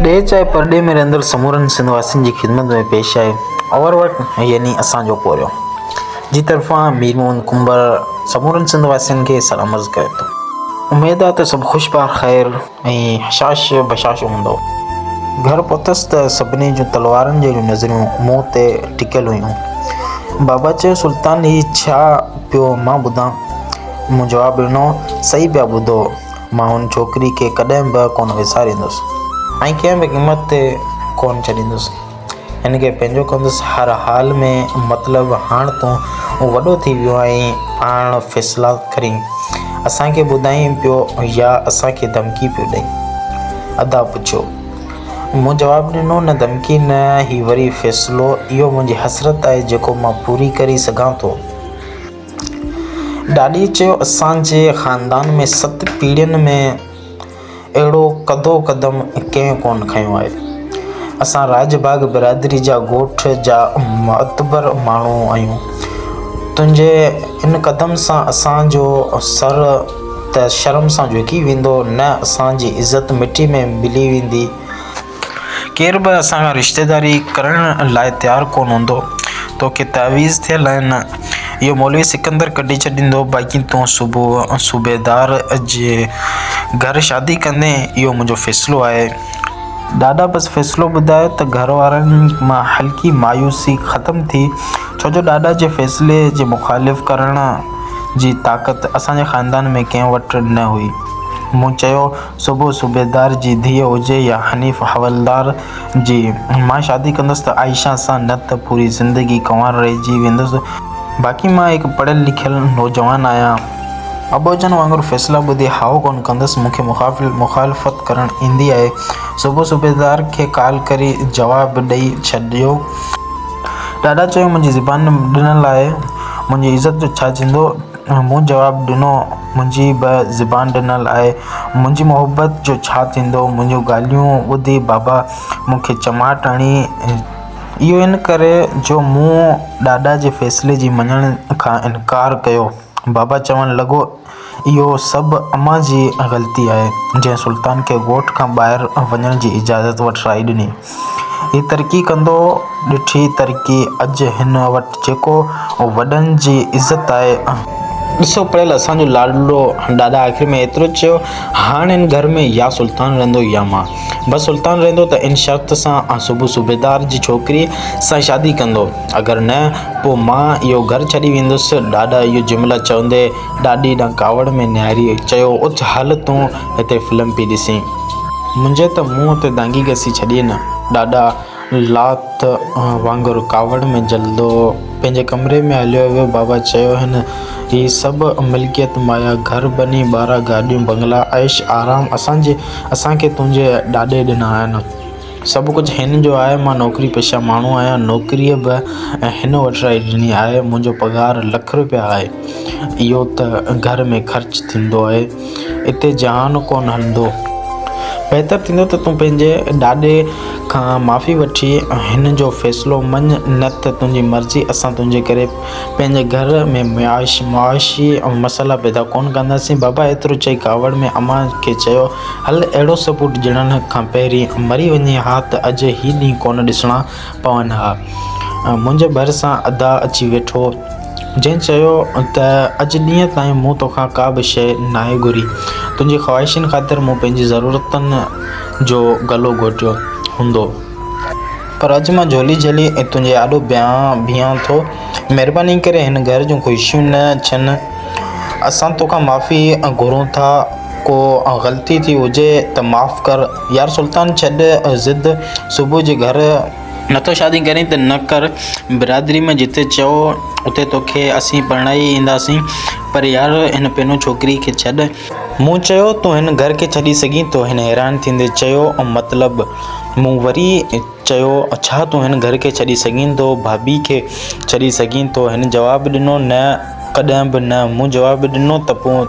ڏيهه چاهي پرڏيهه ۾ رهندڙ سمورن سنڌ واسين جي خدمت ۾ پيش آهي اور وٽ يعني اسان جو پورهيو جي طرفان مير محمد ڪنڀر سمورن سنڌ واسين کي سلام عرض ڪري ٿو اميد آهي ته سڀ خوش بخير ۽ حشاش بشاش هوندو. گهر پهتس ته سڀني جون تلوارن جهڙيون نظريون مون تي ٽڪيل هيون. بابا چيو، سلطان هي ڇا پيو مان ٻڌان؟ مون جواب ڏنو، صحيح پيا ٻڌو، مان هن ڇوڪري کي ڪڏهن به ڪونه وساريندس. ۽ ڪنهن به قيمت تي ڪونه ڇڏيندس. هن کي پنهنجو ڪندس هر حال ۾، مطلب هاڻ تون وڏو ٿي ويو آهين، پاڻ فيصلا ڪرين، اسان کي ٻڌائين پيو يا اسان کي ڌمڪي پيو ڏئين؟ ادا پڇيو. مون جواب ڏنو، نه ڌمڪي نه، هي وري فيصلو، اهو منهنجي حسرت آهي جيڪو مان پوري ڪري سگهان ٿو. ڏاڏيء چيو، اسان جي خاندان ۾ ست پيڙهين ۾. اهڙو ڪڌو قدم ڪنهن ڪونه کنيو آهي. اسان راڄ باغ برادري جا ڳوٺ جا معتبر ماڻهو آهيون. تنهنجي ان قدم سان اسان جو سر ته شرم سان جهڪي ويندو نه اسان جي عزت مٽي ۾ ملي ويندي. ڪير به اسان کان رشتيداري ڪرڻ لاء تيار ڪونه هوندو توکي تعويذ ٿيل آهي نه اهو مولوي سڪندر ڪڍي ڇڏيندو باقي تون صبح صوبيدار جي گهر شادي ڪندين اهو منهنجو فيصلو آهي ڏاڏا بس فيصلو ٻڌايو ته گهر وارن مان هلڪي مايوسي ختم ٿي ڇو جو ڏاڏا جي فيصلي جي مخالف ڪرڻ جي طاقت اسان جي خاندان ۾ ڪنهن وٽ نه هئي مون چيو صبح صوبيدار جي ڌيء هجي يا حنيف حولدار جي. مان شادي ڪندس ته عائشه سان نه ته پوري زندگي ڪنوار رهجي ويندس. باقي مان هڪ پڙهيل لکيل نوجوان آهيان. ابوجن وانگر فيصلا ٻڌي هائو ڪونه ڪندس. مون کي مخالفت ڪرڻ ايندي آهي. صبح صوبيدار کي ڪال ڪري جواب ڏئي ڇڏيو. ڏاڏا چيو منهنجي زبان ڏنل آهي. منهنجي عزت جو ڇا ٿيندو. مون جواب ڏنو، منهنجي به زبان ڏنل آهي، منهنجي محبت جو ڇا ٿيندو؟ منهنجون ڳالهيون ٻڌي بابا مون کي چماٽ هڻي، اهو ان ڪري جو مون ڏاڏا جي فيصلي جي مڃڻ کان انڪار ڪيو. بابا چوڻ لڳو، اهو سڀ امان جي غلطي آهي، جنهن سلطان کي ڳوٺ کان ٻاهر وڃڻ جي اجازت وٺرائي ڏني. هي ترقي ڪندو ڏٺي ترقي اڄ هن وٽ جيڪو اهو وڏن جي عزت آهي ۽ ڏسو پڙهيل اسان جو لاڏلو ڏاڏا آخر ۾ ايترو چيو هاڻ هن گهر ۾ يا سلطان رهندو يا مان بس سلطان رهندو ته ان شرط سان آ صوبو صوبيدار جي ڇوڪري سان شادي ڪندو اگر نه پو مان اهو گهر ڇڏي ويندس ڏاڏا اهو جملا چوندي ڏاڏي ڏانهن ڪاوڙ ۾ نهاري چيو اٿ هل تون هتي فلم پي ڏسين. منهنجي ته منهن تي دانگي گسي ڇڏي نه. ڏاڏا لات وانگر ڪاوڙ ۾ جلدو پنهنجي ڪمري ۾ هليو ويو. بابا چيو هن هي سڀ ملڪيت مايا، گهر بني، ٻارا، گاڏيون، بنگلا، عيش آرام اسان کي تنهنجي ڏاڏي ڏنا آهن. سڀ ڪجهه هن جو آهي، مان نوڪري پيشه ماڻهو آهيان، نوڪري به هن وٺرائي ڏني آهي، منهنجو پگهار لک رپيا آهي، اهو ته گهر ۾ خرچ ٿيندو آهي، اتي جهان ڪونه هلندو، بهتر ٿيندو ته تون پنهنجي ڏاڏي کان معافي وٺي هن جو فيصلو مڃ، نه ته تنهنجي مرضي، اسان تنهنجي ڪري پنهنجي گهر ۾ معاشي مسئلا پيدا ڪونه ڪنداسين، بابا ايترو چئي ڪاوڙ ۾ امان کي چيو. هل اهڙو ثبوت ڄڻڻ کان پهرين مري وڃين ها ته اڄ هي ڏينهن ڪونه ڏسڻا پون ها. منهنجي ڀرسان ادا اچي ويٺو، جنهن چيو ته اڄ ڏينهن تائين مون توکان ڪا به شيء ناهي گهري، تنهنجي خواهشن خاطر مون پنهنجي ضرورتن جو گلو گهوٽيو هوندو، پر اڄ مان جهولي جهلي تنهنجي آڏو بيهان ٿو، مهرباني ڪري هن گهر جون خوشيون نه ڇن. اسان توکان معافي گهرون ٿا، ڪو غلطي ٿي هجي ته معاف ڪر. يار سلطان ڇڏ ضد، صبح جي گهر. نٿو شادي ڪرين ته نه ڪر، برادري ۾ جتي چئو اتي توکي اسين پرڻائي اينداسين، پر يار هن پينو ڇوڪري کي ڇڏ. مون چيو، تون هن گهر کي ڇڏي سگهين ٿو؟ هن حيران ٿيندي چيو، مطلب؟ مون وري. چيو، ڇا تون هن گهر کي ڇڏي سگهين ٿو؟ ڀاڀي کي ڇڏي سگهين ٿو؟ هن جواب ڏنو، نه، ڪڏهن به نه. مون جواب ڏنو، ته پوء؟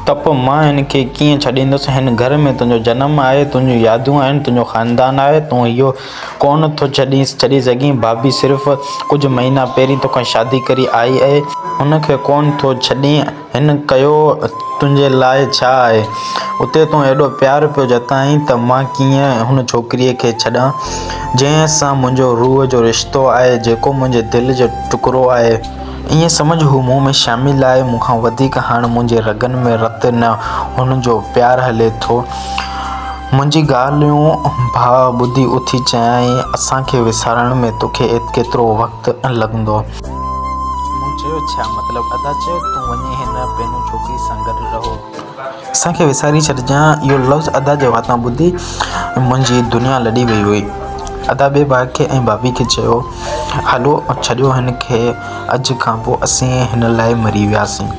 ته پوء مان هن کي ڪيئن ڇڏيندس؟ هن گهر ۾ تنهنجو جنم آهي، تنهنجون يادون آهن، تنهنجو خاندان آهي. تون اهو ڪونه ٿو ڇڏي سگهين. ڀاڀي صرف ڪجهه مهينا پهرين توکان شادي ڪري آئي آهي. هن کي ڪونه ٿو ڇڏين. هن ڪيو تنهنجي لاء ڇا آهي؟ اتي تون ايڏو پيار پيو جتائين ته مان ڪيئن هن ڇوڪريء کي ڇڏان، جنهن سان منهنجو روح جو رشتو آهي، جيڪو منهنجي دل جو ٽڪرو آهي. ائين سمجهه هو مون ۾ شامل آهي، مون کان وڌيڪ هاڻ منهنجي رڳن ۾ رت نه، هن جو پيار هلي ٿو. منهنجي ڳالهيون ڀاء ٻڌي اٿي چيائين، اسان کي وسارڻ ۾ توکي ڪيترو وقت لڳندو؟ مون چيو، ڇا مطلب ادا چيو تون وڃي هن پينون ڇوڪري سان گڏ رهو. اسان کي وساري ڇڏجان. اهو لفظ ادا جي واتان ٻڌي منهنجي دنيا لڏي وئي هئي. ادا ٻئي ڀاء کي ۽ ڀاڀي کي چيو، هلو ڇڏيو هن کي اڄ کان پوء اسين هن لاء مري وياسين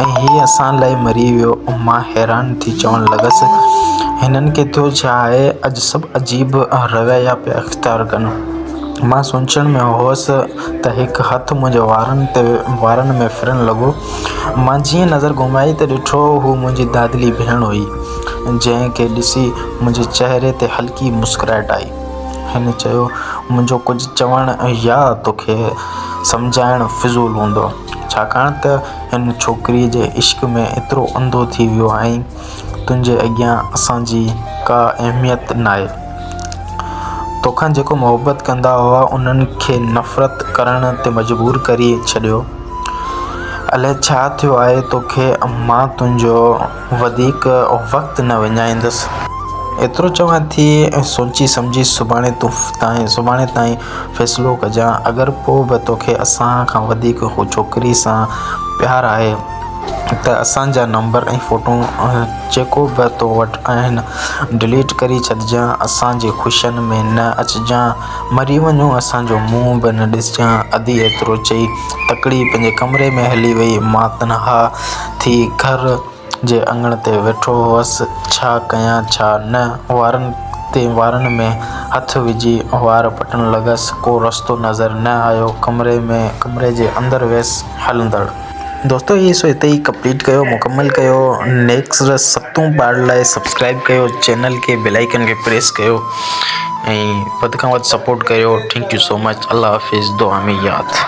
۽ هي اسان لاء مري ويو. مان حيران ٿي چوڻ لڳس، هنن کي ٿيو ڇا آهي اڄ سڀ عجيب رويا پيا اختيار ڪن. مان سوچڻ ۾ هوس ته هڪ هٿ منهنجي وارن تي وارن ۾ ڦرڻ لڳو. مان جيئن نظر گهمائي ته ڏٺو هو منهنجي دادلي ڀيڻ هئي، جنهن کي ڏسي منهنجي چهري تي هلڪي مسڪرائٽ آئي. هن چيو، منهنجو ڪجهه چوڻ يا توکي سمجهائڻ فضول هوندو، ڇاڪاڻ ته هن ڇوڪريء جي عشق ۾ ايترو انڌو ٿي ويو آهين، تنهنجي اڳيان اسان جي ڪا اهميت ناهي. توکان جيڪو محبت ڪندا هئا انهن کي نفرت ڪرڻ تي مجبور ڪري ڇڏيو. الئه ڇا ٿيو آهي توکي مان تنهنجو وڌيڪ وقت نه وڃائيندس. ايترو چوان ٿي ۽ سوچي سمجهي سڀاڻي تون سڀاڻي تائين فيصلو ڪجان اگر پوء به توکي اسان کان وڌيڪ هو ڇوڪري سان پيار آهي. ته اسان جا نمبر ۽ فوٽون جيڪو به تو وٽ آهن ڊليٽ ڪري ڇڏجان اسان جي خوشين ۾ نه اچجان مري وڃون اسان جو منهن به نه ڏسجان ادي ايترو چئي تڪڙي پنهنجي ڪمري ۾ هلي وئي مان تنها ٿي گهر جي اڱڻ تي ويٺو هوس ڇا ڪيان ڇا نه وارن تي وارن ۾ هٿ وجهي وار پٽڻ لڳس ڪو رستو نظر نه آيو ڪمري ۾ ڪمري جي اندر ويس هلندڙ. دوستو هي سو هتي ئي ڪمپليٽ ڪيو مڪمل ڪيو نيڪسٽ ستون پارٽ لاء سبسڪرائب ڪيو چينل کي بيل آئڪن کي پريس ڪيو ۽ وڌ کان وڌ سپورٽ ڪيو ٿينڪ يو سو مچ الله حافظ دعا ۾ ياد